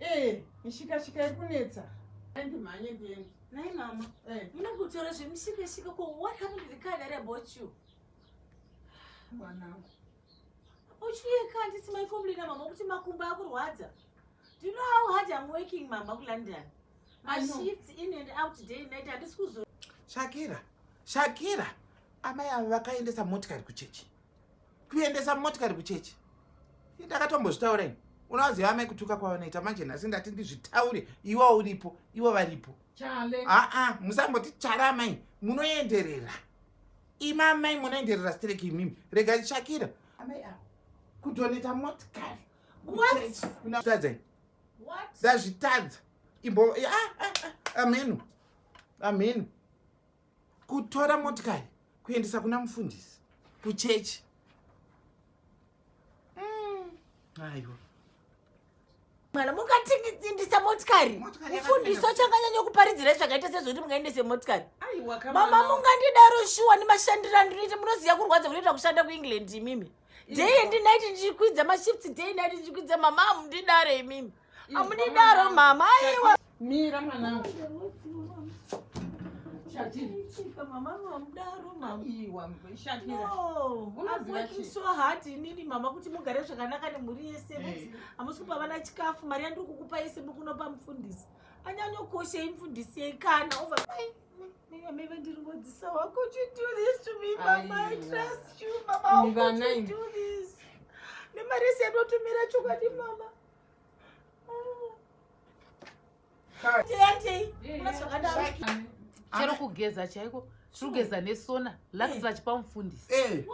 Eh, mishikashika iri kunetsa. Ndimhanye ndiende. Nhai mama. Eh. Ndinoda kutaura zvemishikashika ko what happened to the car that I bought you? Mwanangu. Uchiye car ndisi mai complain mama kuti makumbo akurwadza. Do you know how hard I'm working mama ku London? My shifts in and out day and night handisi kuzo. Shakira. Shakira. Amai avo vakaendesa motikari kuchechi. kuendesa motikari kuchechi ndakatombozvitaura ini unovaziva amai kutuka kwavanoita manje nhasi ndati ndizvitaure iwa uripo ivo varipo aa musamboti chara amai munoenderera imi amai munoenderera stereki imimi rega ndishakira amai avo kudoneta motikari kutadzai ndazvitadza imbo amenu amenu kutora motikari kuendesa kuna mufundisi kuchechi mm. aiwa mm mwana mukatiindisa motikari mufundisi achanganyanya kuparidzira zvakaita sezvokuti mungaendese motikari mama mungandidaro shuwa nemashandiro andinoita munoziva kurwadza kunoita kushanda kuengland imimi day and night ndichikwidza mashift day night ndichikwidza mama amundidare imimi amudidaro mama aiwa mira mwanangu inini mama kuti mugare zvakanaka nemhuri yese eh. hamusi kupa vana chikafu mari yandiri kukupa yese mukunopa mufundisi anyanyokoshei mufundisi yei kana ova meve ndiri ngodzisa wako nemari yese yatotumira chokwadi mama chero kugeza chaiko tiri kugeza nesona laks eh. vachipa mufundisi eh.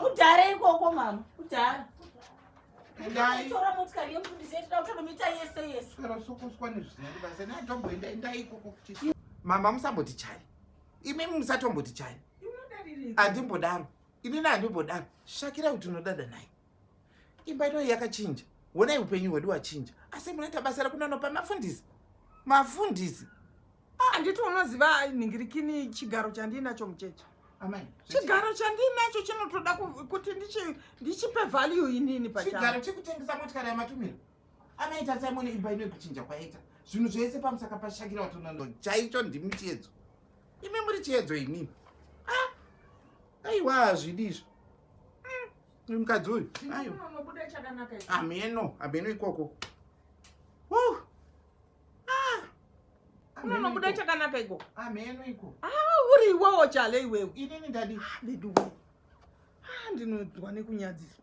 kudhara ikoko mama kudhara ndaitora motikari yemuti ndizoitira kuti anomita yese yese sero sokuswa nezvisina ndibasa naitomboenda endai ikoko kuti mama musamboti chai imi musatomboti chai handimbodaro inini handimbodaro shakira kuti unodada naye imba ino yakachinja honai upenyu hwedu wachinja asi munoita basa rekunanopa mafundisi mafundisi handiti ah, unoziva nhingirikini chigaro chandiinacho mucheche chigaro chandiinacho chinotoda kuti ndichipe value inini pachigaro chekutengesa motikari yamatumiro amaita simon imba ino yekuchinja kwaita zvinhu zvese pamusaka pashakira watonondo chaicho ndimi chiedzo imi muri chiedzo inini ah, aiwa hazvidi izvo hmm, mukadzi uyu hameno hameno ikoko ah! unonobuda chakanaka iko amheno ah, iko ah, uri iwewo chale iwewe inini ndadi veduwe ndinonzwa nekunyadziswa